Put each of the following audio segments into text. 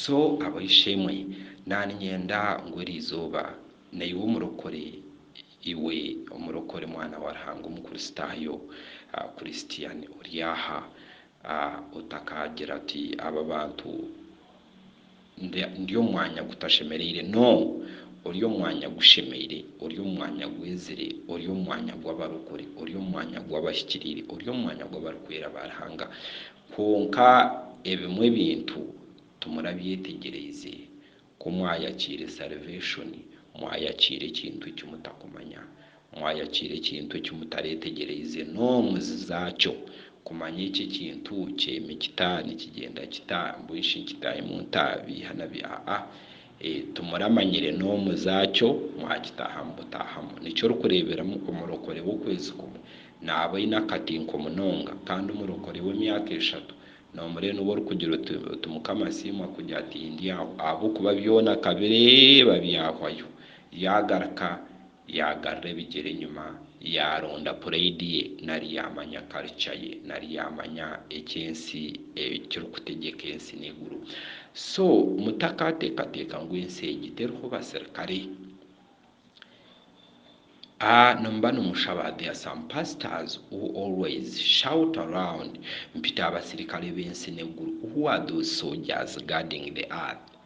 So ab'eishe-emwe, naaniinyenda ngu eri izooba naiwe omurokore, iwe omurokore, mwana wa Ruhanga Omukristaayo, Christian ori aha, otakaagira oti, Aba bantu ndi omu mwanya gutashemereire. No! Ori omu mwanya gushemeire. Ori omu mwanya gwezire. Ori omu mwanya gw'abarokore. Ori omu mwanya gw'abahikiriire. Ori omu mwanya gw'abarikwera ba Ruhanga. Kwonka ebimwe ebintu timurabyetegyereize. Ku mwayakiire salvation, mwayakiire ekintu eki mutakumanya. Mwayakiire ekintu eki mutareetegyereize noomuzi zaakyo, kumanya eki ekintu kyeeme kita, nikigyenda kita, mbwenu shi nkitaahe mu ntaabi, hanabi aa. Ee, timuramanyire n'omuza kyo mwakitaahamu butaahamu. Nikyo orikureeberamu omurokore w'okwezi kumwe naaba aine akatinko munonga, kandi omurokore w'emyaka eshatu noomurebe niwe orikugira oti, oti Mukama asiimwe akugira ati, Ndi aho. Ahabw'okuba byona akabireeba byahwayo, yaagaruka. Yaagarura ebigyere enyima, yaaronda pureidi ye, nari yaamanya karica ye, nari yaamanya eki ensi, ekirikutegyeka ensi n'eiguru. So mutakaateekateeka ngu ensi egi teriho basirikare. Nimuba nimushaba, there are some pastors who always shout around, mpita abasirikare b'ensi n'eiguru, who are those soldiers guarding the earth?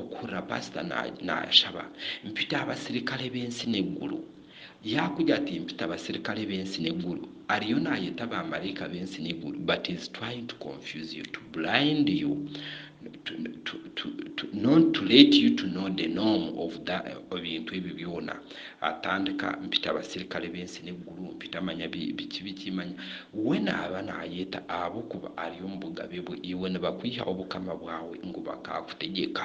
okuhurira paasita naashaba, mpita aha basirikare b'ensi n'egguru. Yaakugira ati, Mpita abasirikare b'ensi n'egguru. Ariyo naayeta baamaraika b'ensi n'egguru, but he is trying to confuse you, to blind you, not to let you to know the norm of ebintu ebyo byona. atandika mpita abasirikare b'ensi n'egguru, mpita manya biki biki manya we naaba naayeta ahabw'okuba ari omu bugabe bwe, iwe nibakwiha obukama bwawe ngu bakaakutegyeka.